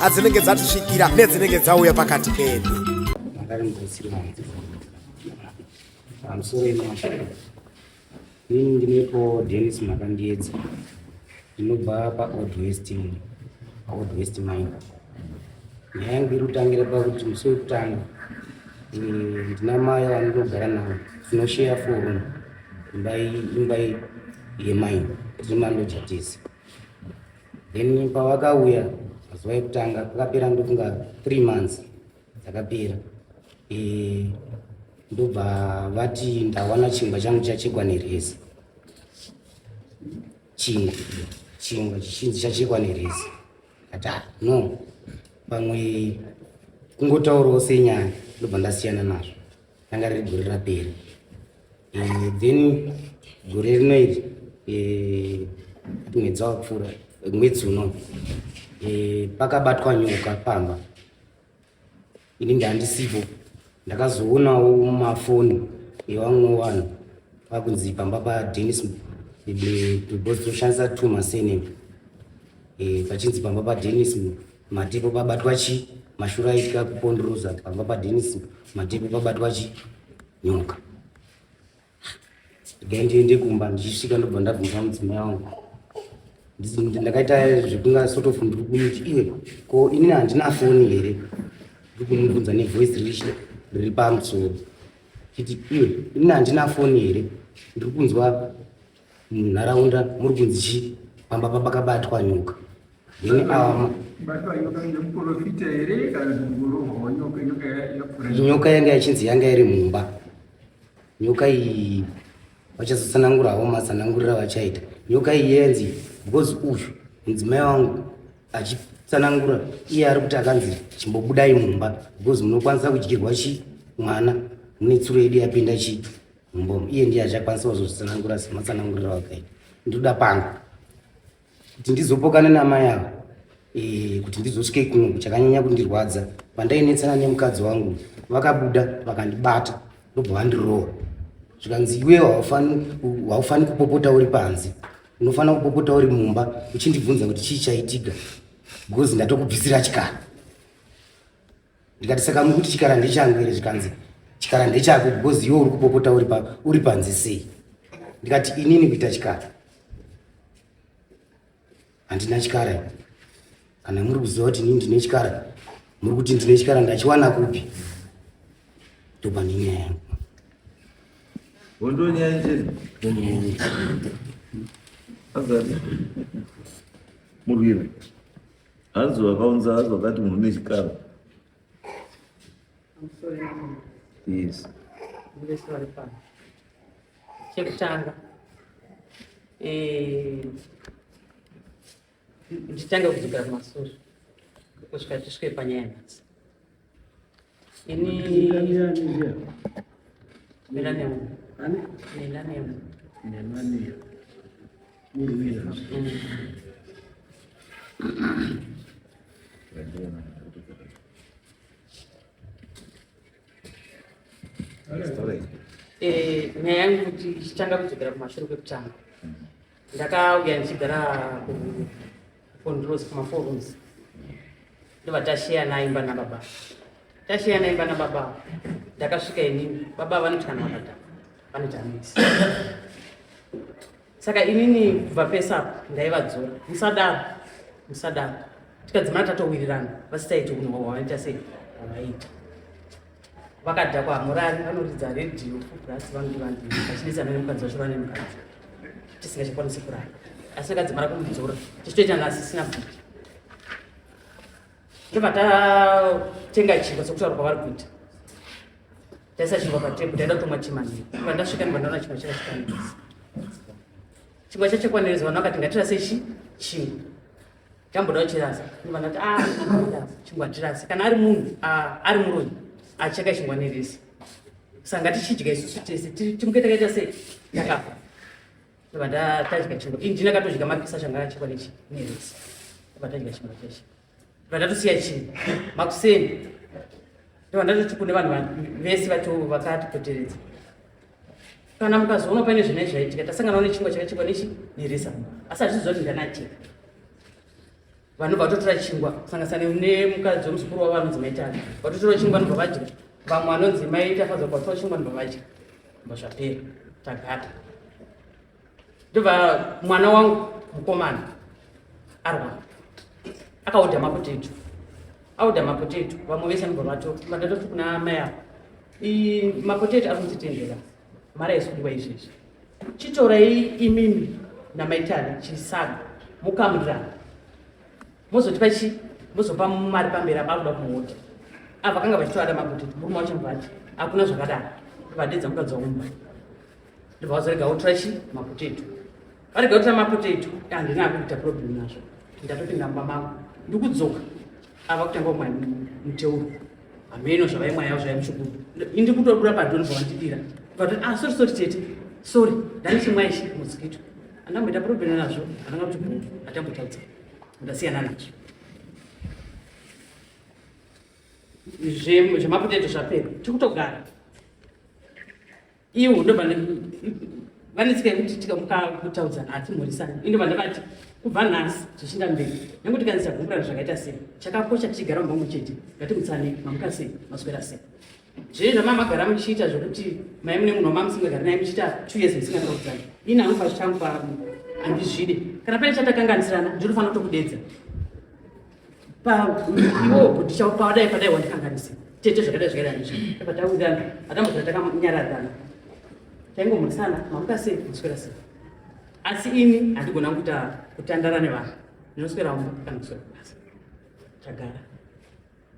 adzinenge dzatisvikira nedzinenge dzauya pakati pedu ini ndinepo denis makandiedza ndinobva paold west paold west mine nyaya yangu iri kutangira pakuti musi wekutanga eh, ndina mai vanondogara navo tinosheya forum imbai imbai yemaini tiri mandojatisi then pavakauya mazuva ekutanga akapera ndofunga three months dzakapera e, ndobva vati ndawana chingwa changu chachekwa nerezi chingwa chingwa chichinzi chachekwa nerezi ati ah, no pamwe kungotaurawo senyaya ndobva ndasiyana nazvo ranga riri gore rapera eh, then gore rino iri eh, mwedzi wakapfuura mwedzi uno eh, pakabatwa nyoka pamba ini ndandisipo ndakazoonawo mafoni evamwe vanhu pakunzi pamba padenis toshandisa two masename pachinzi pamba padenis Matipo pabatwa chi mashura aitya kupondoroza pamba paDenis matipo pabatwa chi nyoka. Dai ndiende kumba ndichisvika ndobva ndabvunza mudzimai wangu ndakaita zvekunga sort of ndiri kumuti iwe ko inini handina foni here ndiri kumubvunza nevoice riri riri pamusoro chiti iwe inini handina foni here ndiri kunzwa munharaunda muri kunzi chii pamba papakabatwa nyoka nyoka yanga yachinzi yanga iri mumba nyoka iyi vachazotsanangurawo matsanangurira vachaita nyoka iyi yenzi because uyu mudzimai wangu achitsanangura iye ari kuti akanzi chimbobudai mumba because munokwanisa kudyirwa chi mwana mune tsuro yedu yapinda chii Mbo iye ndiye achakwanisa kuzozvitsanangura sematsananguriro wakaita ndoda pangu kuti ndizopokana namai avo eh, kuti ndizosvike kuno kuchakanyanya kundirwadza pandainetsana nemukadzi wangu vakabuda vakandibata ndobva vandiroora zvikanzi iwe haufaniri kupopota uri panze unofanira kupopota uri mumba uchindibvunza kuti chii chaitika because ndatokubvisira chikara ndikati saka muri kuti chikara ndechangu here zvikanzi chikara ndechako because iwe uri kupopota uri panze sei ndikati inini kuita chikara handina chikara kana muri kuziva kuti inini ndine chikara muri kuti ndine chikara ndachiwana kupi ndopane nyaya yangu wondonyaya chii azati murwira Hanzi vakaunza hanzi vakati munhu une chikaro. I'm sorry mama. Yes. Ndive sorry pano. Chekutanga. Eh nditange kudzokera kumasure kusvika tisvike panyaya nhasi. Eh, nyaya yangu kuti ichitanga kudzokera kumashure kwekutanga ndakauya ndichigara kucontrols kumaforums ndobva tasheya naimba nababa tasheya naimba nababa ndakasvika inini baba vanoti kana vakata vanoti amisi saka inini kubva pesapo ndaivadzora musadaro musadaro tikadzimana tatowirirana vasitaiti unhu hwavaita sei hwavaita vakadhakwa hamurari vanoridza redhiyo fubrasi vanoti vanhu vachinetsana nemukadzi vacho vane mukadzi tisingachakwanisi kurara asi akadzimara kumudzora tichitoita nga asisina bhuti ndobva tatenga chingwa sokutaura kwavari kuita taisa chingwa patebu taida kutomwa chimanii iva ndasvika ndibva ndaona chingwa chakachikwanirisa chingwa chachikwanirisa vanhu vakati ngatirase chi chingwa chambodawo chirasa ndivana kuti ah, chingwa chirasa kana ari munhu ah, ari muroyi acheka ah, chingwa neresi sanga tichidya isusu tese timuke takaita sei takafa ndova tatadya chingwa ini ndinakatodya mapisa changa achekwa nechi neresi ndova tadya chingwa cheshe ndova ndatosiya chii makuseni ndova ndatoti kune vanhu vese vacho vakatipoteredza kana mukazoona pane zvine zvaitika tasanganawo nechingwa chakachekwa nechi neresa asi hazviziva kuti ndanacheka vanhu vatotora chingwa kusangasana nemukadzi wemuzukuru wavo vanonzi maitani vatotora chingwa vanobva vadya vamwe vanonzi maitafadza kuvatora chingwa vanobva vadya mbazvapera tagata ndobva mwana wangu mukomana arwa akaodha mapoteto aodha mapoteto vamwe vese anobva vato vatatofi kuna mai avo mapoteto ari kutitendera mari aisudwa izvezvi chitorai imimi namaitani chisaga mukamurana mozotipa chi mozopa mari pamberi apa akuda kumuodha ava vakanga vachitoada mapoteto murume wacho mvati hakuna zvakadaro vadedza mukadzi waumba ndobva vazorega votora chi mapotato varega votora mapotato handina akuita problem nazvo ndatopinda mumba mangu ndikudzoka ava kutanga kumwa muteuro hameno zvavaimwa yavo zvaimushukuru indi kutodura padoni zvavandidira but ah sorry sorry tete sorry ndanichimwa ichi mosquito andamboita problem nazvo andanga kuti bhu atambotadza ndasiyana nacho zvemapotato zvapera tikutogara iwo ndobva vanetsika yekuti tikamuka kutaudzana hatimhorisani ino vanda vati kubva nhasi zvichinda mberi nekuti kanzi tagumburana zvakaita sei chakakosha tichigara mumamwe chete ngatimutsane mamuka sei maswera sei zvee zvamamagara muchiita zvekuti mai mune munhu wamamusingagara naye muchiita two years musingataudzani ini anofa zvichangu pamu handizvide kana pane chatakanganisirana ndinofanira kutokudedza iwo kuti chapadai padai wandikanganisa tete zvakadai zvakadai andizvo pataurirana atambozira takanyaradzana taingomhoresana mamuka sei kuswera sei asi ini handigona kuita kutandara nevanhu ndinoswera umba kana kuswera kubasa tagara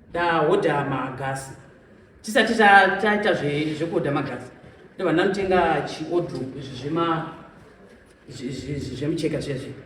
ndahodha magasi tisati taita zvekuhodha magasi ndovanhu vanotenga chiodru izvi zvema zvemucheka zviya zviya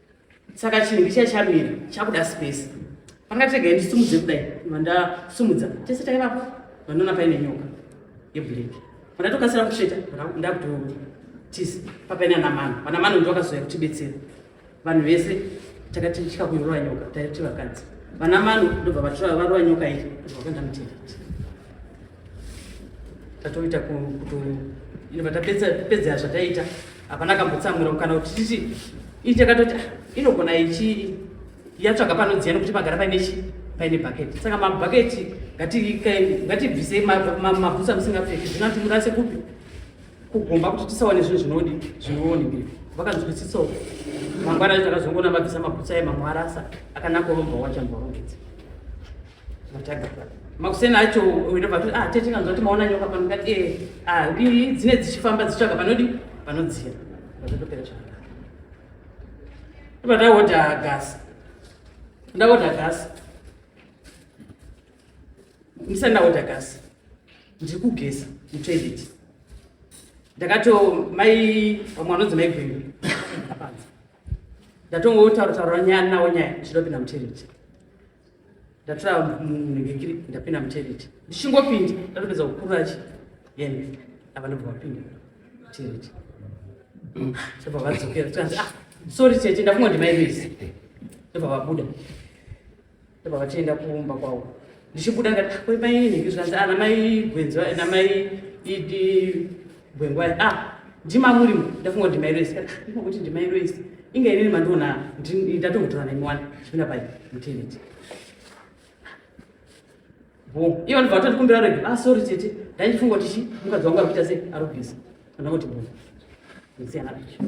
saka chinhu ndicha chamira chakuda space panga tega ndisumudze kudai vandasumudza tese taivapo vanoona paine nyoka yeblack vandatokasira kusheta ndakutotisa papaina namano vanamano ndovakazouya kutibetsera vanhu vese takati tya kuirova nyoka taiti vakadzi vanamano ndobva vatora varova nyoka iri vakandamutenda tatoita tapedzera zvataita hapana kambotsamwira kana kuti titi ii takatoti ah, inogona ichi yatsvaga panodziya nokuti pagara paine chi paine bhaketi saka mabhaketi ngatibvisei mabhutsa musingapfeki zvino timurase kupi kugomba kuti tisawane zvinhu zvinodi zvinoonekei vakanzwisisawo mangwana takazongoona mabvisa mabhutsa emamwe arasa akanaka urombwa wachamborongedza makuseni acho ndobva toti ah tete kanzwa kuti maona nyoka pano ndikati ee eh, ah, ii dzine dzichifamba dzichitsvaga panodi panodziya ndotopera chaka ndobva ndaodha gasi ndaodha gasi ndisati ndaodha gasi ndiri kugeza mutoilet ndakato mai vamwe vanonzi mai gwendu apanza ndatongotaura taura nyaya nawo nyaya ndichidopinda mutoilet ndatora mugekiri ndapinda mutoilet ndichingopinda ndatopedza kukurura chi then ava ndobva vapinda mutoilet ndobva vadzokera tikanzi ah sorry tete ndafunga ndi maibisi ndobva vabuda ndobva vatienda kumba kwavo ndichibuda ngati ah, kwemainini zvikanzi ana ah, mai gwenzi namai idi Gwengwai, ah, ndima murimo, ndafunga kuti mairo ese. Ndima kuti ndima iro ese. Inga inini mandiona ndatokutora nemi wani zvipinda pai muteneti. Bo, iyo ndibva vatondikumbira rege. Ah, sorry tete. Ndaifunga kuti chi mukadzi wangu arikuita sei? Arubhizi. Kana kuti bo. Ndisiyana nacho.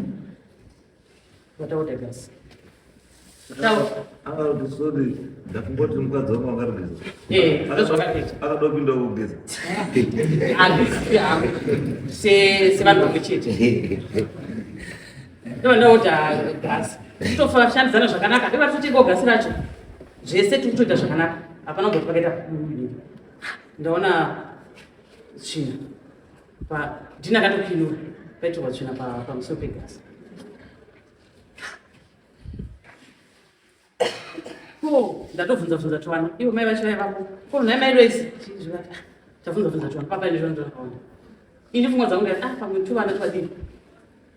ndakungoti mukadzi wangu angarugeza eh, akada kupinda kugeza sevanhu vamwe chete ndondaoda gasi titoshandidzana zvakanaka ndevatotengao gasi racho zvese tiri kutoita zvakanaka hapana kuti pakaita ndaona tsvina Dina akatopinura paitirwa tsvina pamusoro pegasi. Ko ndatovhunza bvunza twana ivo mai vacho vaivapo ko nhai mai loisi chizvivati tavhunza bvunza twana papa ine zvona ndonakaona ini pfungwa dzangu ndati ah pamwe tuvana twadini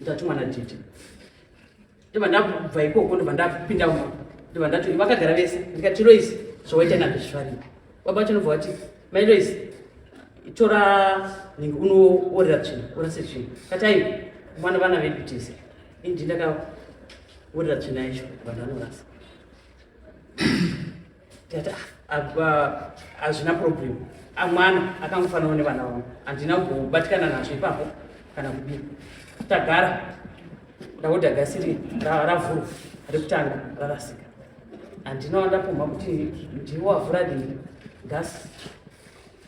ndatumwa nadhidhi ndibva ndabva ikoko ndibva ndapinda uma ndibva ndati vakagara vese ndikati rois zvawaita nazvo zvifarira baba vacho ndobva vati mai rois tora nenge unoorera tsvina orase tsvina kati aiwa mwana vana vedu tese indi ndakaorera tsvina yacho vanhu vanorasa ndikati "Ah, apa hazvina problem Ah, mwana akangofanana nevana vangu handina kubatikana nazvo ipapo kana kudii tagara ndakuda gasi iri ra- ravhurwa rekutanga rarasika handina wandapumha kuti ndiwo wavhura dii gasi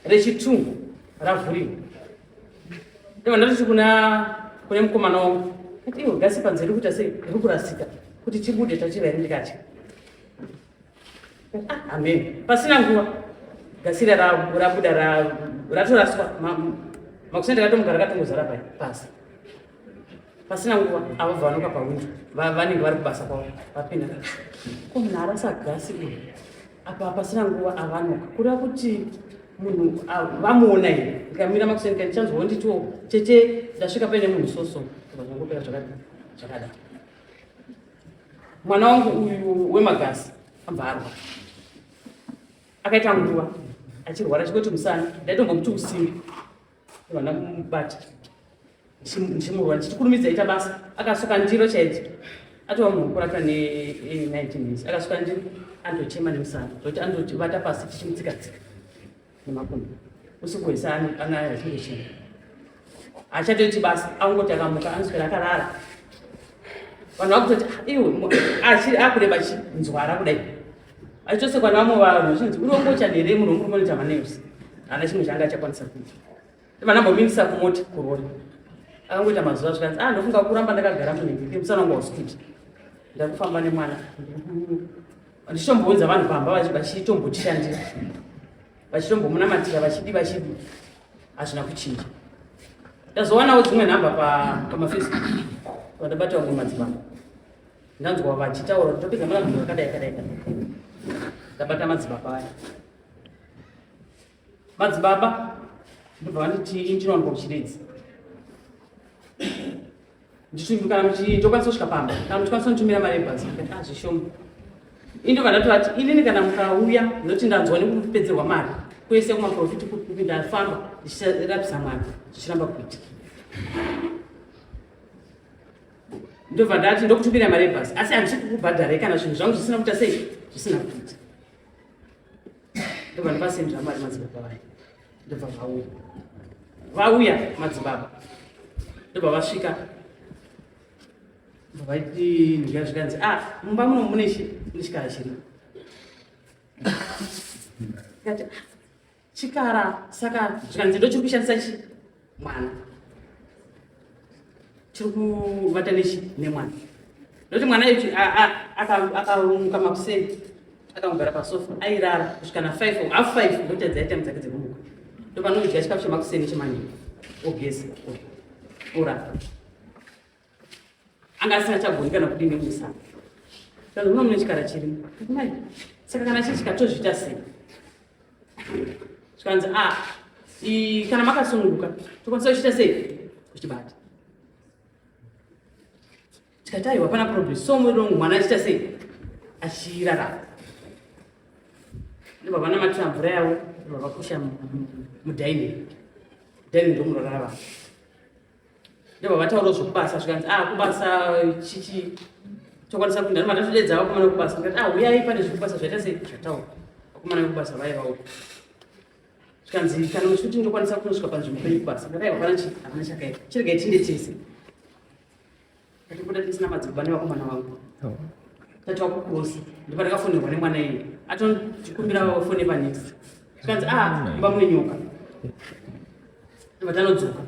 rechitungu ravhuriwa Ndibva ndati kuna kune mukomana wangu kuti iwe gasi panze riri kuita sei riri kurasika kuti tibude tachivhairi ndikati Amen. Pasina nguva gasira rabuda ratoraswa makusenda rakatomugara rakatongozara pai pasi pasina nguva avo vanoka pahwindo vanenge vari kubasa kwavo vapinda ko munhu arasa gasi uyu apa pasina nguva avanoka kureva kuti munhu vamuona here ndikamira makuseni ka ndichanzwa wonditiwo chete ndasvika paine munhu soso zvakangopera zvakadai mwana wangu uyu wemagasi ambarwa akaita nguva achirwara chikoti musana ndaitombomuti usimbi vana kumubata ndichimurwa ndichitikurumidza ita basa akasuka ndiro chaidzo atova munhu wokurata ne19 years akasuka ndiro andochema nemusana zvokuti andoti vata pasi tichimutsikatsika nemakondo usiku hwese anaya chiri chii achatoiti basa angoti akamuka anoswera akarara vanhu vakutoti ah, iwe achiri akureba chinzwara kudai achitosekwa navamwe vanhu achinzi uri wongochani here munhu womurumonitamanails haana chimwe changa achakwanisa kuita Vana mbomimisa kumoti kurori. Akangoita mazuva zvikanzi, ah ndofunga kuramba ndakagara munhu musana wangu wasukuti. Ndakufamba nemwana. Ndichitombounza vanhu pamba vachitombotishandira. Vachitombomunamatira vachidi vachidi. Hazvina kuchinja. Ndazowanawo dzimwe nhamba pamafacebook. Vandabata vamwe madzimambo. Ndanzwa vachitaura kuti topedza mwana munhu akadai kadai kadai. Ndabata madzimambo aya. madzibaba ndobva vanditi ini chinowanikwa kuchiridzi ndichiti kana muchi tokwanisa kusvika pamba kana muchikwanisa kundimira mari yebhazi ndikati ah zvishoma ini ndobva ndatovati inini kana mukauya ndinoti ndanzwa nekupedzerwa mari kwese kumaprofiti kupi ndafamba ndichirapisa mwana zvichiramba kuitika ndobva ndati ndokutumira mari yebhazi asi handisi kukubhadharai kana zvinhu zvangu zvisina kuita sei zvisina kuita ndobva ndivasendera mari madzibaba vaya ndobva vauya vauya madzibaba ndobva vasvika ndobva vaiti ndya zvikanzi a ah, mumba muno mune chikara chiri kati ah, chikara saka zvikanzi ndochiri kushandisa chii mwana chiri kuvata nechi nemwana ndokuti mwana ichi akarumuka makuseni akamugara pasofa airara kusvika na five or half five ndotadza aita mudzake dzekumuka ndopanodya chikafu chemakuseni chemanheru ogeza orapa anga asina chagoni kana kudii nemusana saka muno mune chikara chirimo mai saka kana chii chikatozviita sei zvikanzi a ah, kana makasununguka tokwanisa kuchiita sei kuchibata tikati aiwa pana problem so muviri wangu mwana achiita sei achirarama ndobva vanamatira mvura yavo ndobva vakusha mudaini daini ndomurorara vanhu ndobva vataura zvekubasa zvikanzi ah kubasa chichi tokwanisa kuenda noma tatodedza vakomana kubasa ndikati ah huyai pane zvekubasa zvaita sei zvataura vakomana vekubasa vaiva uko zvikanzi kana muchikuti ndokwanisa kunosvika panzvimbo penyu kubasa ndakaiva pana chii hapana chakaiva chirega tinde tese Ndatobuda tisina madzibaba nevakomana vangu. Oh. Tati wakukurusa. Ndipo ndakafonirwa nemwana iye. Atondikumbira fone panext. Kanzi ah mba mune nyoka. Ndipo tanodzoka.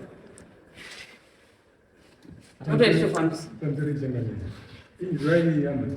Tatoita zvifambisi. Tanzeri jengani. Inzwai yambo.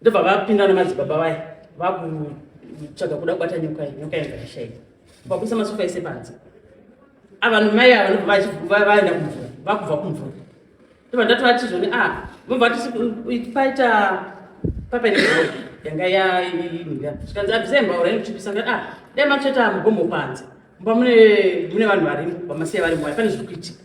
ndobva vapinda namadzibaba vaye vakutsvaga kuda kubata nyoka iyi nyoka yanga yashaika vakuisa masofa ese panze avanhu mai ava ndobva vaenda kumvura vakubva kumvura ndobva ndatovati zvoni a ah, vobva vati paita papaine yanga yaimira zvikanzi abvisai mbaura inochipisa a ah, dai matsveta mugombo panze mba mune vanhu varimo vamasiya varimo hai pane zviri kuitika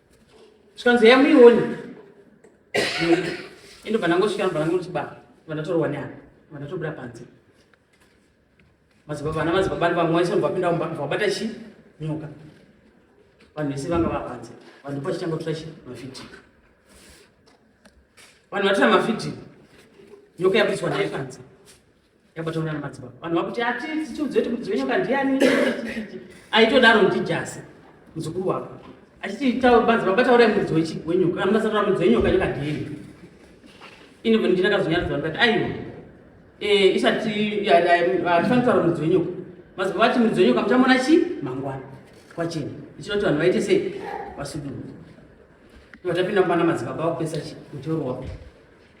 zvikanzi yamuione ende bva ndangosvika bva ndangotibaa bva ndatorwa neana bva ndatobuda panze madzibaba vana madzibaba ni vamwe waisonobva pinda mumba bva wabata chi nyoka vanhu vese vanga vapanze vanhu ndipo vachitanga kutora chi mavhidhiyo vanhu vatora mavhidhiyo nyoka yapiswa naye panze yabataura namadzibaba vanhu vakuti ati tiudze kuti mudzimu wenyoka ndiani aitodaro ndijasi muzukuru wako achiti madzibaba bataurai mudzi wenyoka anobasaura mudzi wenyoka nyoka ndieni ini ndinakazonyaridza vanhu kati aiwa eh, isati hatifanira kutaura mudzi wenyoka mazibaba vati mudzi wenyoka muchamona chi mangwana kwacheni ichida kuti vanhu vaite sei vasudurure vatapinda mubana madzibaba vakupesa chi muteuro wako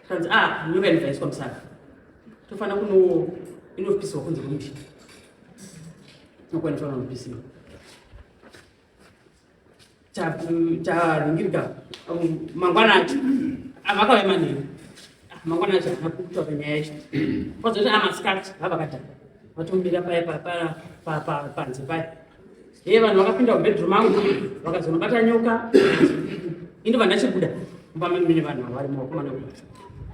Kanzi ah nyoka inobvaiswa musaka. Tofana kuno inopiswa kunze kwemuti. Nokwanisa vanopisiwa. Taringirika um, mangwana acho avakauya ah, manheru. Ah, mangwana acho havana kutaura nyaya yacho. Kwazoti amasikati ah, vavakadhaka. Vatomira paya panze paya. Hey, vanhu vakapinda mubedroom mangu vakazonobata nyoka ini vandachibuda mubamemene vanhu vavari muvakomana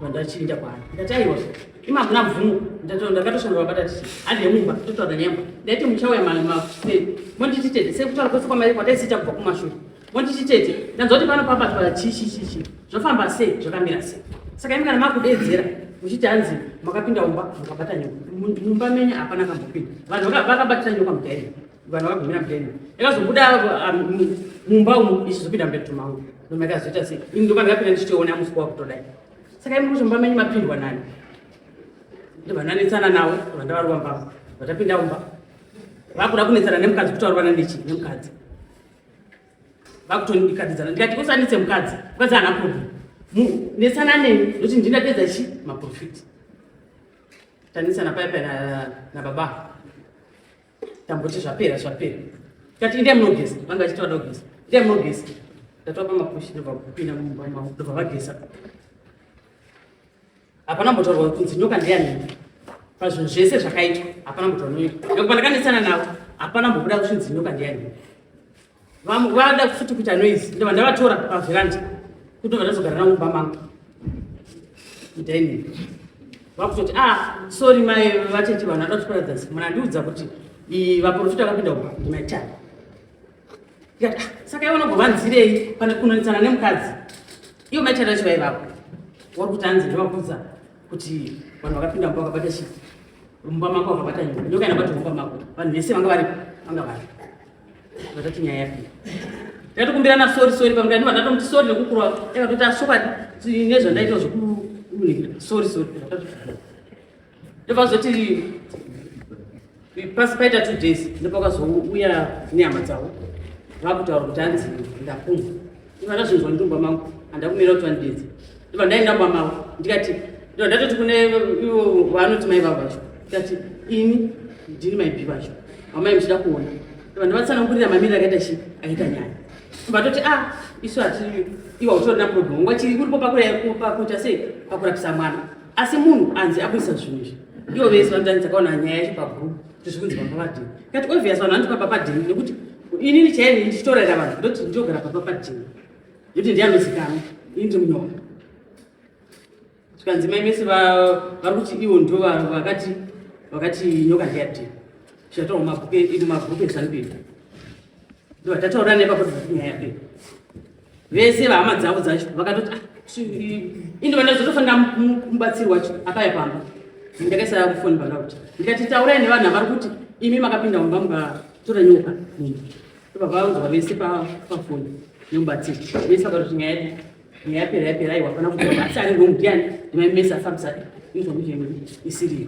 vandachiinda kwaari ndati aiwa ima hakuna mvumo ndakatoshanda vabata tichi hande mumba totaura nyemba ndaiti muchauya makuseni mondititede sekutaura kwese kwamai kwataisiita kubva kumashure Monditi tete, ndanzwa kuti pano pabatwa chichi chichi zvafamba sei zvakamira sei. Saka imi kana makudedzera muchiti hanzi makapinda umba mukabata nyoka. Mumba menyu hapana kambopinda. Vanhu vakabatira nyoka mudaini. Vanhu vakagumira mudaini. Yakazobuda ah, mumba umu ichizopinda mubedroom mangu. Noma yakazoita sei. Ini ndoka ndakapinda ndichitoona musi wako kutodai. Saka imi kuti mumba menyu mapindwa nani? Ndovananetsana nawo vandavarwa mbavha. Vatapinda umba. Vakuda kunetsana nemukadzi kutaurwa nandichi nemukadzi. vakutondikatidzana ndikati kusanitse mukadzi mukadzi haana problem netsana neni ndokuti ndinapedza chi maprofiti tanetsana paya paya nababa tamboti zvapera zvapera kati ndiye munogeza vanga vachiti vada kugeza ndiye munogeza ndatopa mapushi ndobva kupinda mumba mavo ndobva vageza hapana mbotorwa kunzi nyoka ndeyani pazvinhu zvese zvakaitwa hapana mbotorwa nyoka nekuti pandakandisana navo hapana mbokuda kushinzi nyoka ndeyani vamwe vada futi kuita noise ndova ndavatora paveranda kutobva ndazogara navo mumba mangu mudaini vakutoti a ah, sori mai vatete vanhu vada kutiparadza mwana ndiudza kuti vaprofita vakapinda uba ndimaitani ndikati ah, saka iwe unogovanzirei pane kunonetsana nemukadzi iwe maitana chivai vako wari kuti anzi ndovakudza kuti vanhu vakapinda mumba vakabata chii mumba mako vakabata nyoka nyoka inabata mumba mako vanhu vese vanga varipo vanga vari vatati nyaya yapi ndatokumbirana sori sori pamwe ndani vanhu vatomuti sori nekukurwa vakatoti asokati nezvandaita zvekununhikira sori sori ndobva zvoti pasi paita two days ndopakazouya nehama dzavo vakutaura kuti hanzi ndakumwa iva ndazvinzwa ndumba mangu handa kumira kuti vandidedze ndobva ndaenda mba mavo ndikati ndobva ndatoti kune ivo vaanoti mai vavo vacho ndikati ini ndini maibi vacho vamai muchida kuona ndobva ndavatsanangurira mamiriro akaita chi akaita nyaya ndobva toti a ah, isu hati iwa utorina problem ngwachiri kuripo pakuita sei pakurapisa mwana asi munhu anzi akuisa zvinhu izvi ivo vese vanotani dzakaona nyaya yacho pagroup kuti zvikunzi baba padini kati obvious vanhu vanoti baba padini nekuti inini chaini ndichitorera vanhu ndoti ndinogara baba padini nekuti ndiye anozikanwa ini ndiri munyora zvikanzi mai mese vari kuti ivo ndo vakati vakati nyoka ndiyadini zvataura mumabhuku ezanu pedu ndo vatataura nepakuti nyaya pedu vese vahama dzavo dzacho vakatoti ah, indi vandazotofanira mubatsirwa apaya pamba ndakaisa foni paloud ndikati taurai nevanhu avari kuti imi makapinda mumba mukatora nyoka munhu vavaunzwa vese pafoni nemubatsiri vese vakatoti nyaya yedu nyaya yapera yapera aiwa hapana kuti asi ari ngomudiyani ndimaimesa fabsa inzwa kuti isiriyo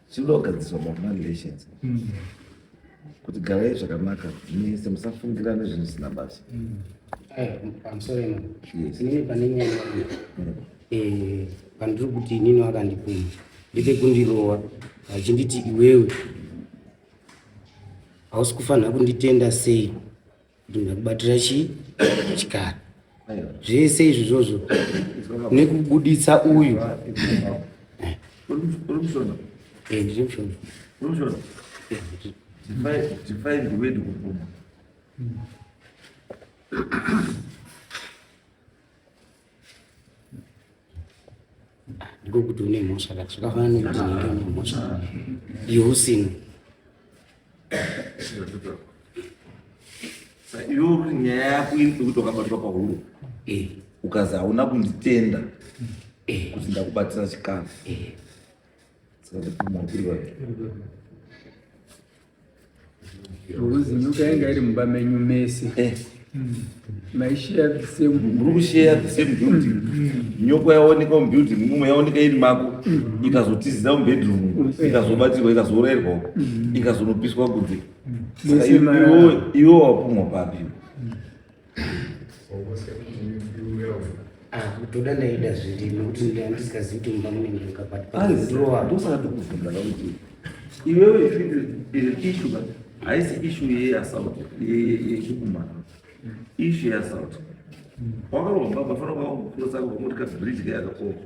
Chinoda kugadziswa mafamily relations. Mm. Kuti garai zvakanaka, mese musafungirane zvinhu zvisina basa. Mm. Aya, I'm sorry man. Yes. Inini pane nyaya yangu. Mm. Eh, pandiri kuti inini wakandipuma. Ndite kundirova achinditi iwewe hausi kufanira kunditenda sei Ndinoda kubatira chi chikara zvese izvi zvozvo nekubuditsa uyu eh, ndiri mushona ndiko kuti une mhosva kati zvakafanana nekuti nenge une mhosva iwe usina iwe nyaya yako iri pekuti wakabatwa pahuro eh. ukazi hauna kunditenda eh. kuti ndakubatsira chikafu eh. saka ndikumakurwa Ruzi nyuka yanga iri mumba menyu mese. Eh. Mai share the same. Muri kushare the same building. Mm. Nyoko yaonekwa mu building mumwe yaoneka iri mako mm. ikazotizira mu bedroom mm. ikazobatirwa ikazorairwa ikazonopiswa kunze. Saka iwo iwo wapumwa papi? kutoda ndaida zviri nokuti ndisikazii kuti mumba munenge mukabhatandosaka tokuvhunza vakuti iwewe ishu but haisi ishu yeassault yekukumana ishu yeassault wakaromba bafana kwakukurosa kuti kabridge kayakakoka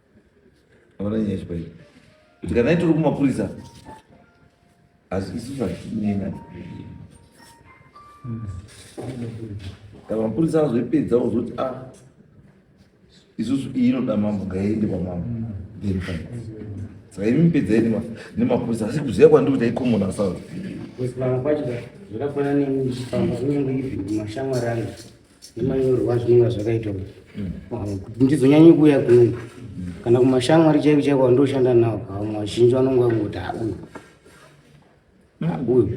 Hauna nyaya chibayi. Tikadai tiri kumapurisa. Asi isu zvatinena. Kana mapurisa azoipedza ozoti ah isusu iyi inoda mambo ngaiende kwamambo. Then fine. Saka imi pedzai nemapurisa asi kuziva kwandiri kuti aikomona sauri. Kuziva kwacho zvakafanana neni ndichifamba kunyange even mashamwari angu. nemanyorwa zvinonga zvakaita kuti ndizonyanyi kuuya kuno kana kumashamwari chaivo chaivo andoshanda nawo pamwe vazhinji vanonga kungoti auyu auyu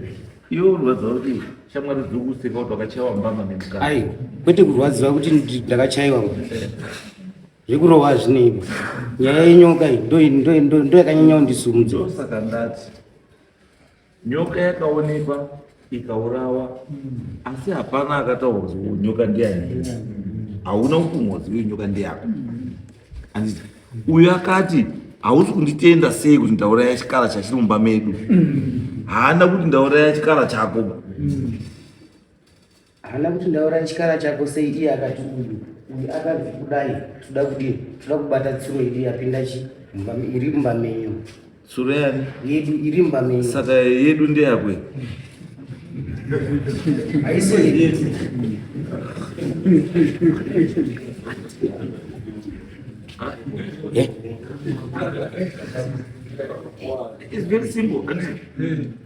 iwe urwadziwa kuti shamwari dziri kuseka kuti wakachaiwa mbama nemukana ai kwete kurwadziwa kuti ndakachaiwa zvekurova zvineipa nyaya yenyoka iyi ndoyakanyanya kundisumudza ndosaka ndati Nyoka yakaonekwa ikaurawa asi hapana akataura kuti nyoka ndiyani hauna ukumhodzi uyo nyoka ndeyako anditi uyo akati hausi kunditenda sei kuti ndauraya chikara chachiri mumba medu haana kuti ndauraya chikara chako haana kuti ndaura chikara chako sei iye akati uyu uyu akanzi kudai toda kudii toda kubata tsuro yedu yapinda chi iri mumba menyu tsuro yani yedu iri mumba menyu saka yedu ndeyakwe haisi yedu It's very simple.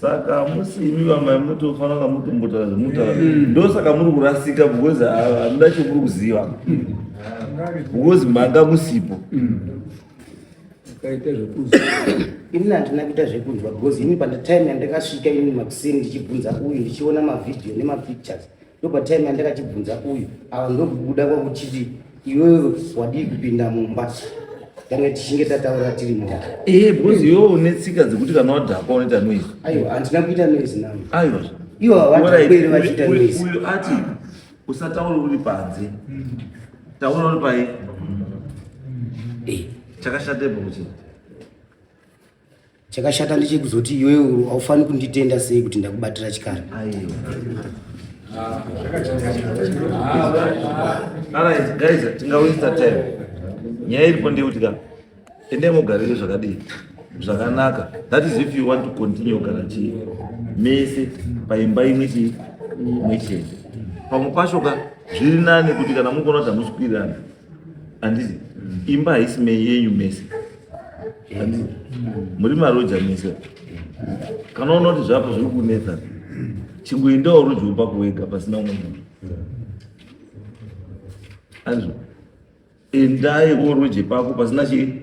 saka hamusi imi vamai munotofanira kunga mutombotaura zvemunotaura mm. ndo saka muri kurasika because hamuna ah, chomuri kuziva because manga musipo mm. ukaita zvekuziva ini handina kuita zvekunzwa because ini panditime yandakasvika ini makuseni ndichibvunza uyu ndichiona mavhidhiyo nemapictures ndopatime andakachibvunza uyu ava ndokubuda kwakuchiti iwewe wadii kupinda mumba kana tichinge tataura tiri mumba ee eh, because iwewe une tsika dzekuti kana wadhakwa unoita noise aiwa handina kuita noise navo aiwa ivo havataeri vachiita noise uyu ati usataure uri panze taura uri pai eh. chakashatepo kuchii Chakashata ndechekuzoti iwewe haufaniri kunditenda sei kuti ndakubatira chikara. Alright guys, tingawinisa time. Nyaya iripo ndeyekuti ka endai mugarire zvakadii zvakanaka that is if you want to continue kugara chii mese paimba imwe chii imwe chete pamwe pacho ka zviri nani kuti kana mukuona kuti hamusi kuwirirana handizi imba haisi meyenyu mese handizi muri maroja mese kana unoona kuti zvako zviri kunetsa chingoendawo roja upako wega pasina umwe munhu handizi endai oroje pako pasina chii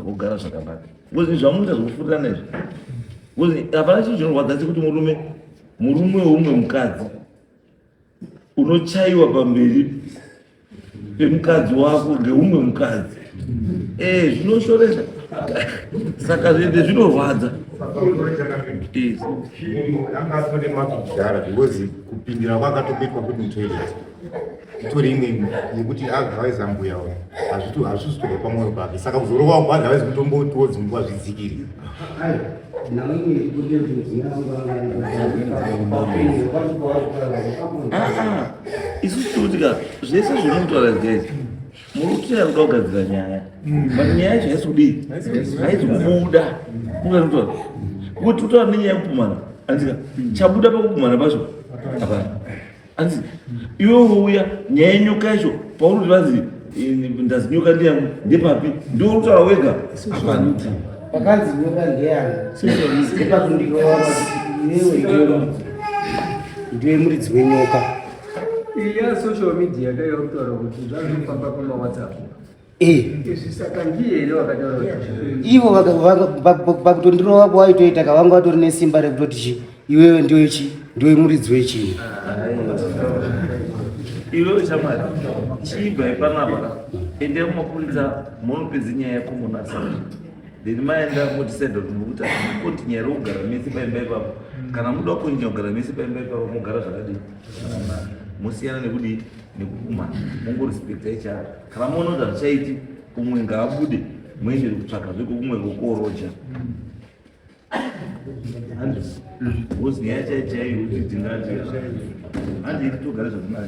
mogara zvakanaka bcause zvamunoita zvekufurirana izvi bcause hapana chinhu chinorwadza sekuti murume murume weumwe mukadzi unochaiwa pamberi pemukadzi wako ngeumwe mukadzi eh, zvinoshoresa saka zvende zvinorwadza kupindira kwakatokuitwa kuti mutoilet itori imwe yekuti agavaiza mbuya uya hazvituhazvisitobva pamwoyo pake saka kuzorowa kwadhavaizi kutombotiwo dzimbuwa zvidzikiri isu tikutika zvese zviri mutaura guys muruti akuda kugadzira nyaya but nyaya yacho haisi kudii haisi kubuda unganitaura kuti utaura nenyaya yekupumana andika chabuda pakupumana pacho hapana hanzi iwe wouya nyaya yenyoka yacho paunoti vanzi ndazi nyoka ndiyangu ndepapi ndiwo unotaura wega apanuti pakanzi nyoka ndeyanguepakundiroaaiwewe ndiwe muridzi wenyoka iya social media ndeyokutaura kuti zvazvinofamba kumawhatsapp Eh. ivo vakutondirova kuvaitoita ka vanga vatori nesimba rekutoti chi iwewe ndiwe chi ndiwe muridzi wechii iwewe chamwari chiibva ipanapa endai kumapurisa monopedza nyaya yako monasa then maenda motisaida kuti mukuta koti nyaya rokugara mese paimba ipapo kana muda kunyanya kugara mese paimba ipapo mogara zvakadii musiyana nekudii nekukumana mongorespecta ichara kana muona kuti hazvichaiti umwe ngaabude muendere kutsvaka zveko kumwe kokoroja handi nyaya chai chaiyo kuti tingati handi iti togare zvakanaka